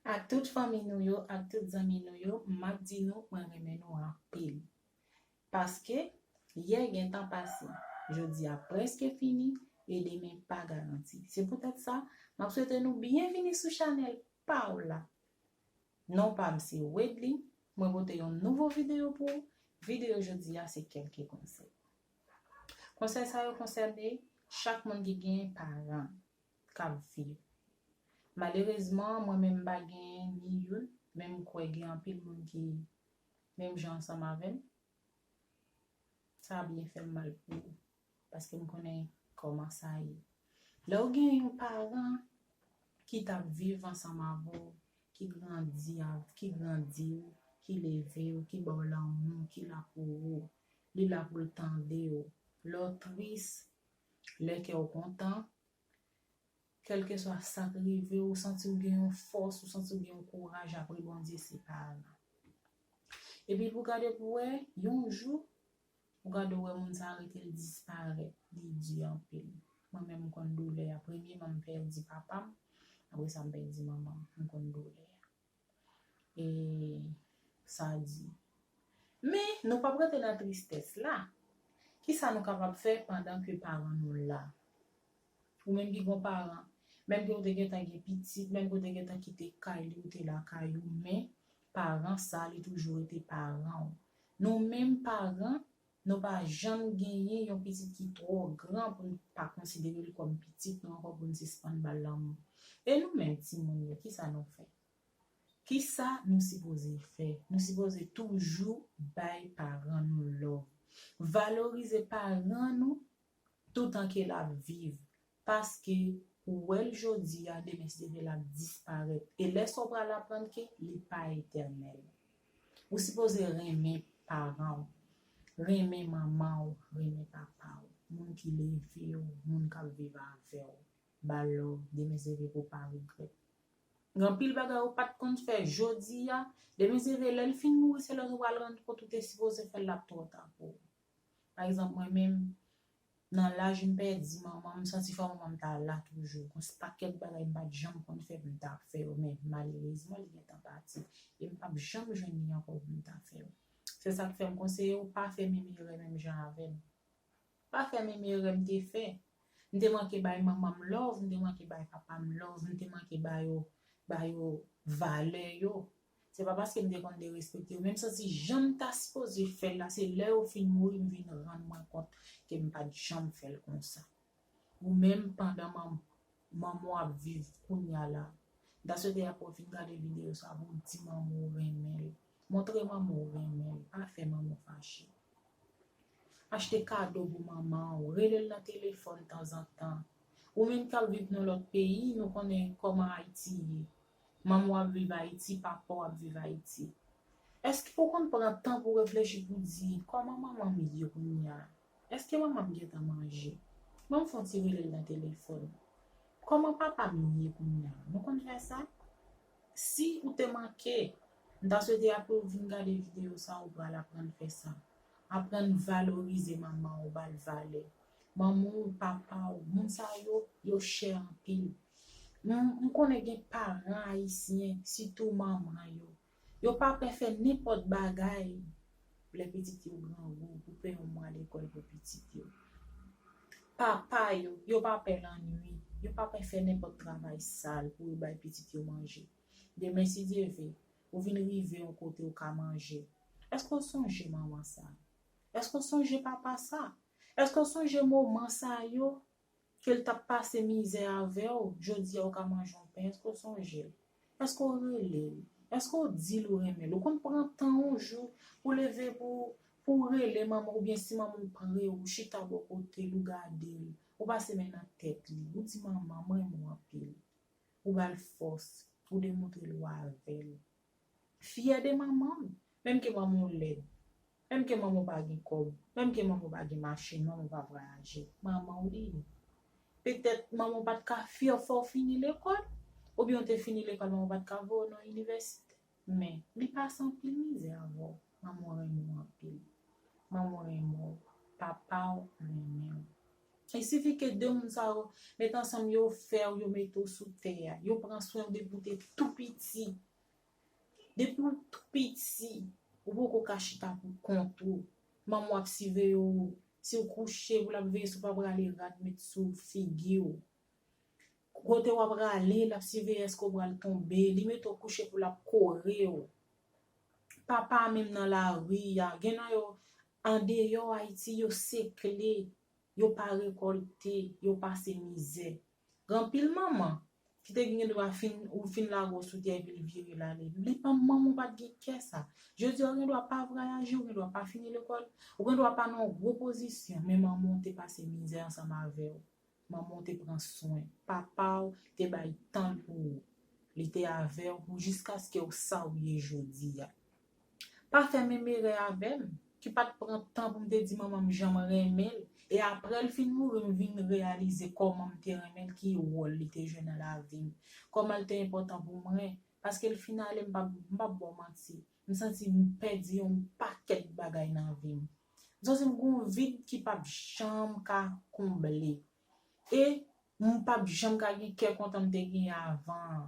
Ak tout fanmi nou yo ak tout zanmi nou yo map di nou mwen renmen nou anpil paske yè gentan pase jodia preske fini e demen pa garanti se poutèt sa map swete nou byenvini sou chanèl paw la non pam se Wedley mwen pote yon nouvo video pou ou video jodia se kelke konsèy konsèy sa yo konsène chak moun ki gen paran k ap viv. Malerezman, mwen menm m pa gen ni youn, men m kwè gen anpil moun ki menm jan ansanm avè m. Sa ap byen fè m mal pou yo, paske m konnen kòman sa ye. Lè w gen yon paran ki t ap viv ansanm avè w, ki grandi, ki grandi w, ki leve w, ki ba w lanmou, ki la pou ou, li la pou l tande w, lè w tris, Lè kè w kontan, kèlkeswa sa k rive w, ou santi w gen yon fòs, ou santi w gen yon kouraj apre Bondye se pa al nan. Epi pou gade pou wè, yon jou, ou gade ou wè moun sa a rete l disparèt, li di anpil. Mwen menm m konn doulè a, premyeman m pèdi papa m, apre sa m pèdi manman m, m konn doulè a. E sa di. Men, nou pap rete nan tristès la. Ki sa nou kapab fè pandan ke paran nou la? Ou menm ki gon paran, menm ke ou te gentan gen pitit, menm ke ou te gentan kite kay li, ou te lakay ou, men, paran sa, li toujou rete paran ou. Nou menm paran, Nou pa janm genyen yon pitit ki twò gran pou n pa konsidere l kòm pitit nou ankò pou n sispann ba l lanmou. E nou menm timoun yo, kisa nou fè? Kisa nou sipoze fè? Nou sipoze toujou bay paran nou love. Valorize paran nou toutan ke lap viv paske ou wèl jodi a demen se vre lap disparèt e lè sa ou pral aprann ke li pa etènèl ou sipoze renmen paran ou renmen manman ou renmen papa ou moun ki leve ou moun kap viv avè ou ba lòv demen se vre pou pa regrèt gen anpil bagay ou pat konn fè jodi a demen se vre lèl fin mouri se lè ou pral rann kont ou te sipoze fèl lap twò ta pou ou. Pa egzanp mwen menm, nan laj m pèdi manman m, m santi fò manman m ta la toujou. Gon pakèt bagay m pat janm konn fè pou m ta fè yo men malerezman li gentan pati e m pap janm jwenn li ankò pou m ta fè yo. Se sa k fè m konseye w pa fè menm erè menm jan avè m. Pa fè menm erè m te fè. M te manke bay manman m love, m te manke bay papa m love, m te manke ba yo ba yo valè yo Se pa paske m te konn derespekte yo men m santi jan m ta sipoze fè l la se lè yo fin mouri m vin rann mwen kont ke m pa t janm fè l konsa. Ou menm pandan manman w ap viv kounya la m ta swete apre w fin gade videyo sa pou w di manman w renmen l. Montre manman w renmen l, pa fè manman w fache. Achte kado pou manman w, rele l nan telefòn tanzantan. Ou menm k ap viv nan lòt peyi nou konnen kòman Ayiti ye. Manman w ap viv Ayiti, papa w ap viv Ayiti. Èske ou konn pran tan pou reflechi pou di, Kòman manman m ye kounye a? Èske manman m gentan manje? Ban m fè yon ti rele l nan telefòn. Kòman papa m ye kounye a? Nou konn fè sa? Si ou te manke, m ta swete apre ou fin gade videyo sa a ou pral aprann fè sa. Aprann valorize manman w, ba l valè. manman w, papa w, moun sa yo, yo chè anpil. M konnen gen paran ayisyen, sitou manman yo, yo pa pè fè nenpòt bagay lè pitit yo grangou pou peye yon mwa lekòl pou pitit yo. Papa yo, yo pa pè lannwi, yo pa pè fè nenpòt travay sal pou yo bay pitit yo manje. Demen si Dye ve, ou vin rive yon kote ou ka manje. Èske w sonje manman sa a? Èske w sonje papa sa a? Eske w sonje moman sa yo, ke l t ap pase mizè avè w, jodi a ou ka manje yon pen, eske w sonje l? Eske w rele l? Eske w di l ou renmen l? Ou konn pran tan yon jou pou w leve pou w pou w rele manman w oubyen si manman w pre w, ou chita bò kote l, ou gade l, ou pase men nan tèt li, ou di manman m renmen w anpil. Ou ba l fòs, ou demontre l ou avè l. Fyè de manman w. Menm ke manman w lèd. Menm ke manman w pa gen kòb. Menm ke manman w pa gen machin, manman w pa vwayaje. Manman w li ye. Petèt manman w pa t ka fyè w fè w fini lekòl. Oubyen w te fini lekòl manman w pa t ka voye w nan inivèsite. Men, li pase anpil mizè avè w. Manman w renmen w anpil. Manman w renmen w. Papa w renmen w. Il suffit ke 2 moun sa yo met ansanm yo fè w, yo mete w sou tè a. Yo pran swen w depi w te tou piti. Depi w tou piti, ou poko ka chita pou kont ou. Manman w ap siveye w. Si w kouche, pou l ap veye si w pa prale rad met sou figi w. Kote w ap prale, l ap siveye èske w pral tonbe. Li mete w kouche pou l ap kore w. Papa menm nan lari a, gen nan yo, Andeyò Ayiti yo sekle, yo pa rekòlte, yo pase mizè. Gen anpil manman, ki te gen dwa fin, ou fin lage w sou tè epi l vire l ale. Li pa manman w pa t gen kè sa. Jodi a ou gen dwa pa vwayaje, ou gen dwa pa fini lekòl, ou gen dwa pa nan yon gwo pozisyon, men manman w te pase mizè ansanm avè w. Manman w te pran swen. Papa w te bay tan l pou ou. Li te avè w pou jiskaske w sa w ye jodi a. Pa fè menm erè avè m, ki pa t pran tan pou m te di manman m jan m renmen l, e apre l fin mouri m vin reyalize kòman m te renmen l, ki wòl li te jwe nan lavi m, kòman l te enpòtan pou mwen. Paske l fin ale m pa p ba w manti, m santi m pèdi yon pakèt bagay nan vi m. Zan se m gon vid ki pap janm ka konble e m pap janm ka gen kè kontan m te genyen avan an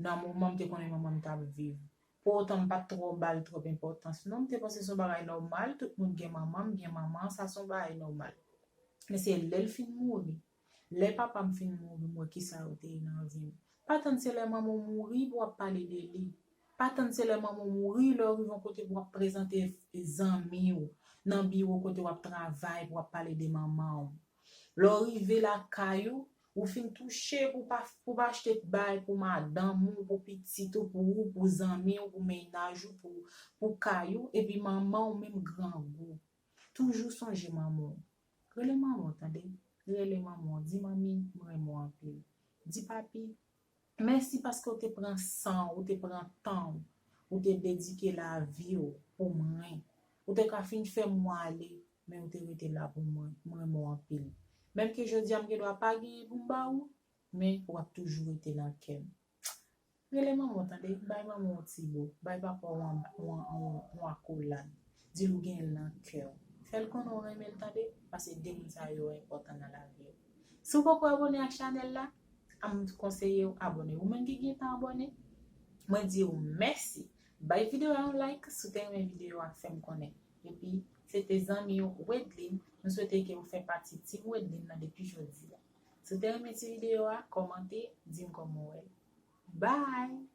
nan moman m te konnen manman m t ap viv. Pou otan m pat twò ba l twòp enpòtans non m te panse se yon bagay nòmal tout moun gen manman m gen manman sa se yon bagay nòmal. Men se lè l fin mouri Lè papam fin mouri m wè kisa yo te ye nan vi m. Pa tann se lè manman w mouri pou w ap pale de li. Pa tann se lè manman w mouri lè w rive yon kote pou w ap prezante zanmi w nan biwo kote w ap travay pou w ap pale de manman w. Lè w rive lakay ou, ou fin touche pou w pa pou w pa achte bay pou madanm ou, pou pitit ou, pou ou, pou zanmi w, pou mennaj ou, pou pou kay ou epi manman w menm grangou. Toujou sonje manman w. Rele manman w tande rele manman w di manmi m renmen w anpil di papi mèsi paske w te pran san w ou te pran tan w ou te dedike lavi w pou mwen ou te ka fin fè m mwen ale men ou te rete la pou mwen m renmen w anpil menm ke jodi a m gen dwa pa genyen pou m ba ou men w ap toujou rete nan kè m. Rele manman w tande, bay manman w yon ti bo, bay papa w yon akolad, di l ou gen l nan kè w. Fè l konnen w renmen l tande, pase 2 moun sa yo enpòtan nan lavi w. Si w poko abone ak chanèl la, m konseye w abone. Ou menm ki gentan abone, mwen di w mèsi. Bay videyo a yon like si w te renmen videyo a, fè m konnen. Epi, se te zanmi w Wedlin, m swete ke ou fè pati Team Wedlin nan depi jodi a. Si w te renmen ti videyo a, kòmante, di m kòman w wè l. Bye!